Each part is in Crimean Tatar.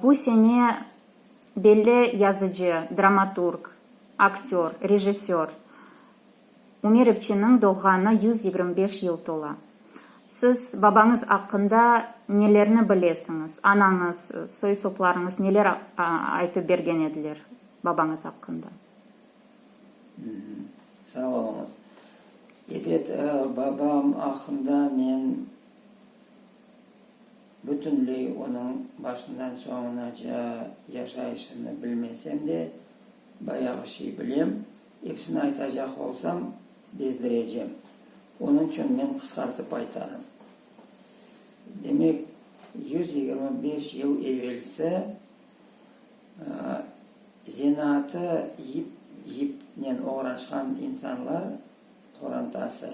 Bu sene belli yazıcı, dramaturg, aktör, rejissör Umer İpçiniñ doğğanı yüz yigirmi beş yıl tola. Siz babañız aqqında nelerni bilesiñiz? Anañız, soy-soplarıñız neler aytıp bergen ediler babañız aqqında? Sağ oluñız. Ebet, babam aqqında men. Bütünley onıñ başından soñunaca yaşayışını bilmesem de, bayağı şey bilem. Episini aytacaq olsam, bezdirecem. Onıñ içün men qısqartıp aytarım. Demek, yüz yigirmi beş yıl evelsi zenaatı yip-yipnen oğraşqan insanlar qorantası.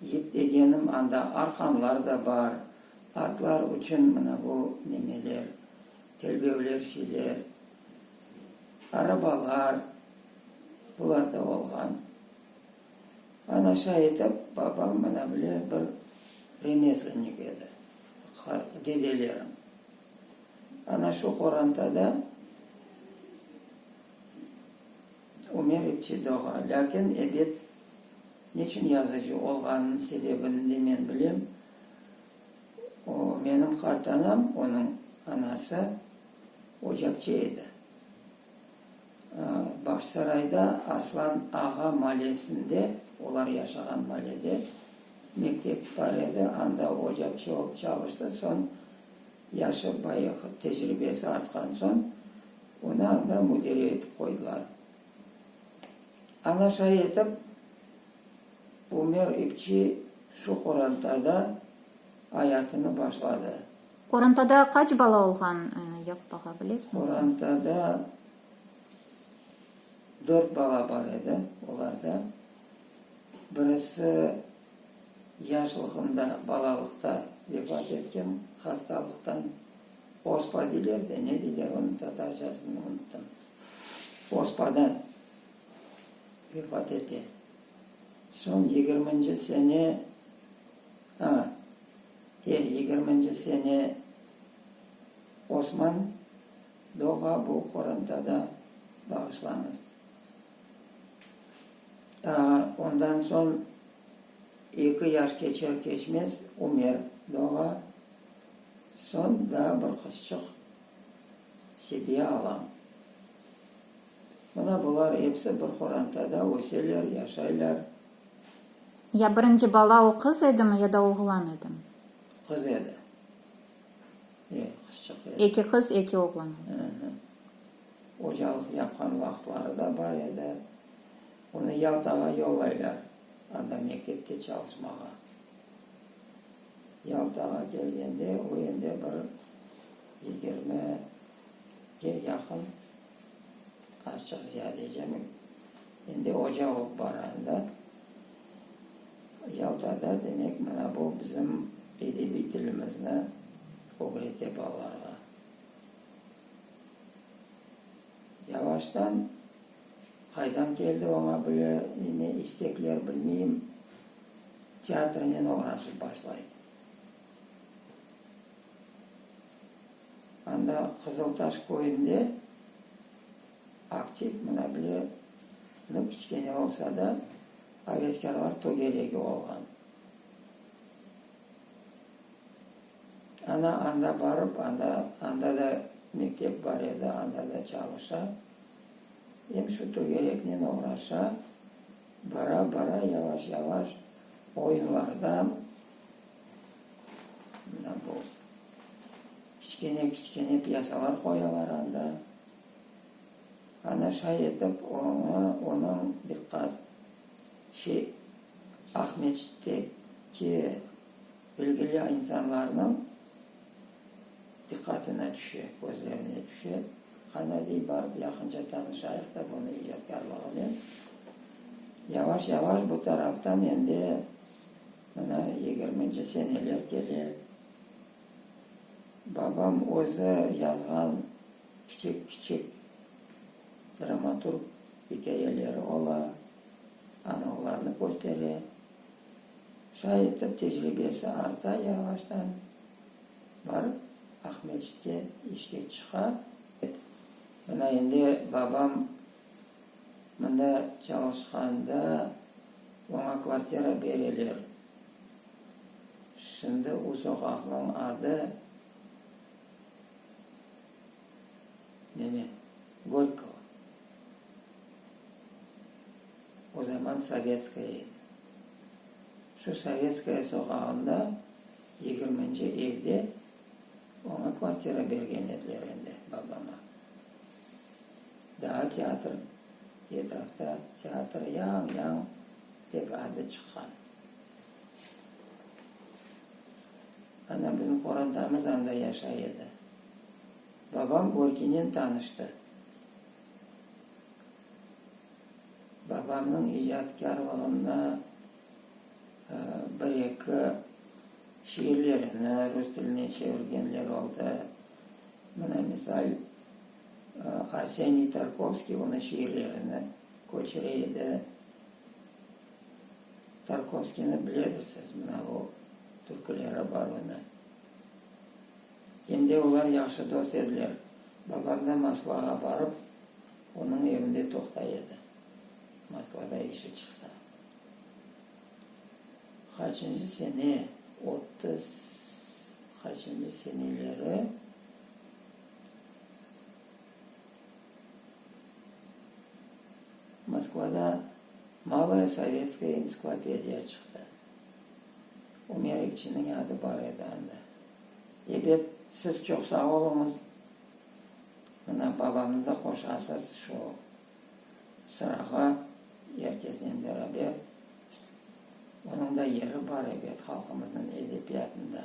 Yip degenim, anda arqanlar da bar, atlar içün mına bu nemeler, telbevler şeyler, arabalar, bular da olğan. Ana şay etip, babam mına bile bir remezlennik edi, dedelerim. Ana şu qorantada. Ömer ipçi doğa, lâkin ebet neçün yazıcı olğanınıñ sebebini de men bilem. O, menim qartanam, onıñ anası ocaqçı edi. Bağçasarayda Arslan ağa malesinde, olar yaşağan malede, mektep bar edi, anda ocaqçı olıp çalıştı, soñ yaşı bayığı, tecribesi artqan soñ, Onı anda müdire etip qoydılar. Ana şay etip Ümer İpçi şu qorantada ayatını başladı. Qorantada qaç bala olğan, Yakup ağa, bilesiñizmi? Qorantada dört bala bar edi. Olardan birisi yaşlığında, balalıqta vefat etken, hastalıqtan. Ospa diyler de, ne diyler onıñ tatarcasını unuttam. Ospada vefat ete. Soñ yigirminci sene, a, e, yigirminci sene Osman doğa, bu qorantada bağışlañız. A, ondan soñ eki yaş keçer-keçmez Umer doğa. Soñ daa bir qızçıq sebiye alam. Mına bular epsi bir qorantada öseler, yaşaylar. Ya birinci bala o qız edimi ya da oğlan edimi? Qız edi. E, qızçıq edi. Eki qız, eki oğlan edi. Hı-hı. Ocalıq yapqan vaqıtları da bar edi. Onı Yaltağa yollaylar, anda mektepte çalışmağa. Yaltağa kelgende, o endi bir yigirmige yaqın, azçıq ziyade ecemi, endi oca olıp bara edi da. Yaltada, demek, mına bu bizim edebiy tilimizni ögrete balalarğa. Yavaştan qaydan keldi oña bile ne istekler, bilmeyim, teatrnen oğraşıp başlay. Anda Qızıltaş köyünde aktiv, mına bile, nı kiçkene olsa da, aveskârlar tögeregi olğan. Ana anda barıp, anda, anda da mektep bar edi, anda da çalışa, em şu tögereknen oğraşa, bara-bara yavaş-yavaş oyunlardan, mına bu kiçkene-kiçkene pyasalar qoyalar anda, ana şay etip oña, onıñ diqqat, şey, Aqmescitteki, Bilgili insanlarnıñ diqqatına tüşe, közlerine tüşe. Qana, dey, barıp yaqınca tanışayıq da bunı icadkarlığınen. Yavaş-yavaş bu taraftan endi mına yigirminci seneler kele. Babam özü yazğan kiçik-kiçik dramaturg ikâyeleri ola, anı olarnı köstere. Şay etip, tecribesi arta, yavaştan barıp Aqmescitke işke çıqa. Mına endi babam mında çalışqanda oña kvartira bereler. Şimdi u soqaqnıñ adı neme, Gorkova. O zaman Sovetskaya edi. Şu Sovetskaya soqağında yigirminci evde oña kvartira bergen ediler endi, babama. Daa teatr, etrafta teatr yañ-yañ tek adı çıqqan. Ana bizim qorantamız anda yaşay edi. Babam Gorkinen tanıştı. Babamnıñ icadkârlığında bir-eki şiirlerini rus tiline çevirgenler oldı. Mına misal, Arseniy Tarkovskiy onı şiirlerini köçüre edi. Tarkovskiyni biledirsiz, mına o türküleri bar onı. Em de olar yahşı dost ediler. Babam da Moskvağa barıp, onıñ evinde toqtay edi, Moskvada işi çıqsa. Qaçıncı sene, otuz qaçıncı seneleri, Moskvada Maloye sovetskoye entsiklopediya çıqtı. Ömer İpçiniñ adı bar edi anda. Ebet, siz çoq sağ oluñız. Mına, babamnı da qoşasız şu sırağa, er kesnen beraber. Onıñ da yeri bar, ebet, halqımıznıñ edebiyatında.